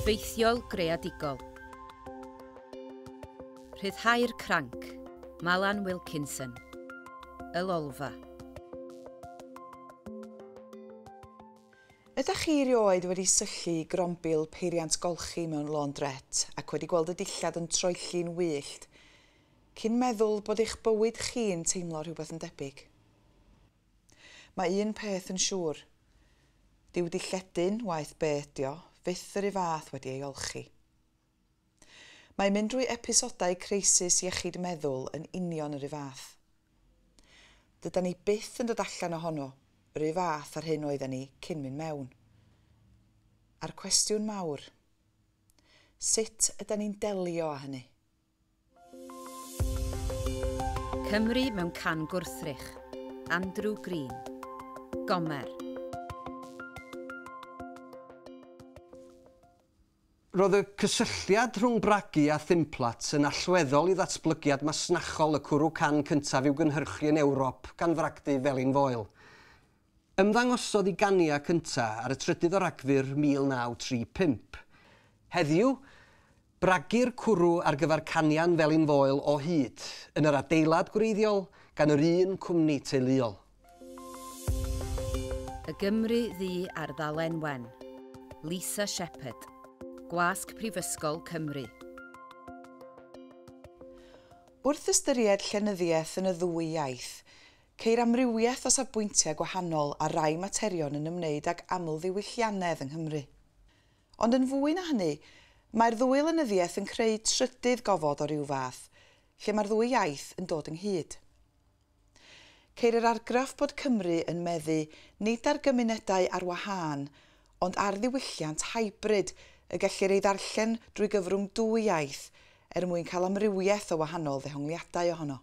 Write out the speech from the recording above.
Ffeithiol greadigol. Rhyddhau'r cranc. Malan Wilkinson. Y Lolfa. Ydach chi erioed wedi syllu i grombil peiriant golchi mewn laundrette ac wedi gweld y dillad yn troelli'n wyllt, cyn meddwl bod eich bywyd chi'n teimlo rhywbeth yn debyg? Mae un peth yn siŵr, dyw dy lledyn, waeth be' ydi o, fyth yr u' fath wedi ei olchi. Mae mynd drwy episodau creisis iechyd meddwl yn union yr u' fath. Dydan ni byth yn dod allan ohono yr u' fath a'r hyn oedden ni cyn mynd mewn. A'r cwestiwn mawr, sut ydan ni'n delio â hynny? Cymru mewn can gwrthrych. Andrew Green. Gomer. Roedd y cysylltiad rhwng Bragi a Thimplat yn allweddol i ddatblygiad masnachol y cwrw can cyntaf i'w gynhyrchu yn Ewrop gan fragdy felin foel. Ymddangosodd i Gania cynta ar y trydydd o Ragfyr 1935. Heddiw, bragir cwrw ar gyfer Cania'n Felin Foel o hyd, yn yr adeilad gwreiddiol, gan yr un cwmni teuluol. Y Gymru Ddu ar ddalen wen. Lisa Shepherd. Gwasg Prifysgol Cymru. Wrth ystyried llenyddiaeth yn y ddwy iaith, Ceir amrywiaeth o safbwyntiau gwahanol ar rai materion yn ymwneud ag amlddiwylliannedd yng Nghymru. Ond yn fwy na hynny, mae'r ddwy lenyddiaeth yn creu trydydd gofod o ryw fath, lle mae'r ddwy iaith yn dod ynghyd. Ceir yr argraff bod Cymru yn meddu nid ar gymunedau ar wahân, ond ar ddiwylliant hybrid y gellir ei ddarllen drwy gyfrwng dwy iaith, er mwyn cael amrywiaeth o wahanol ddehongliadau ohono.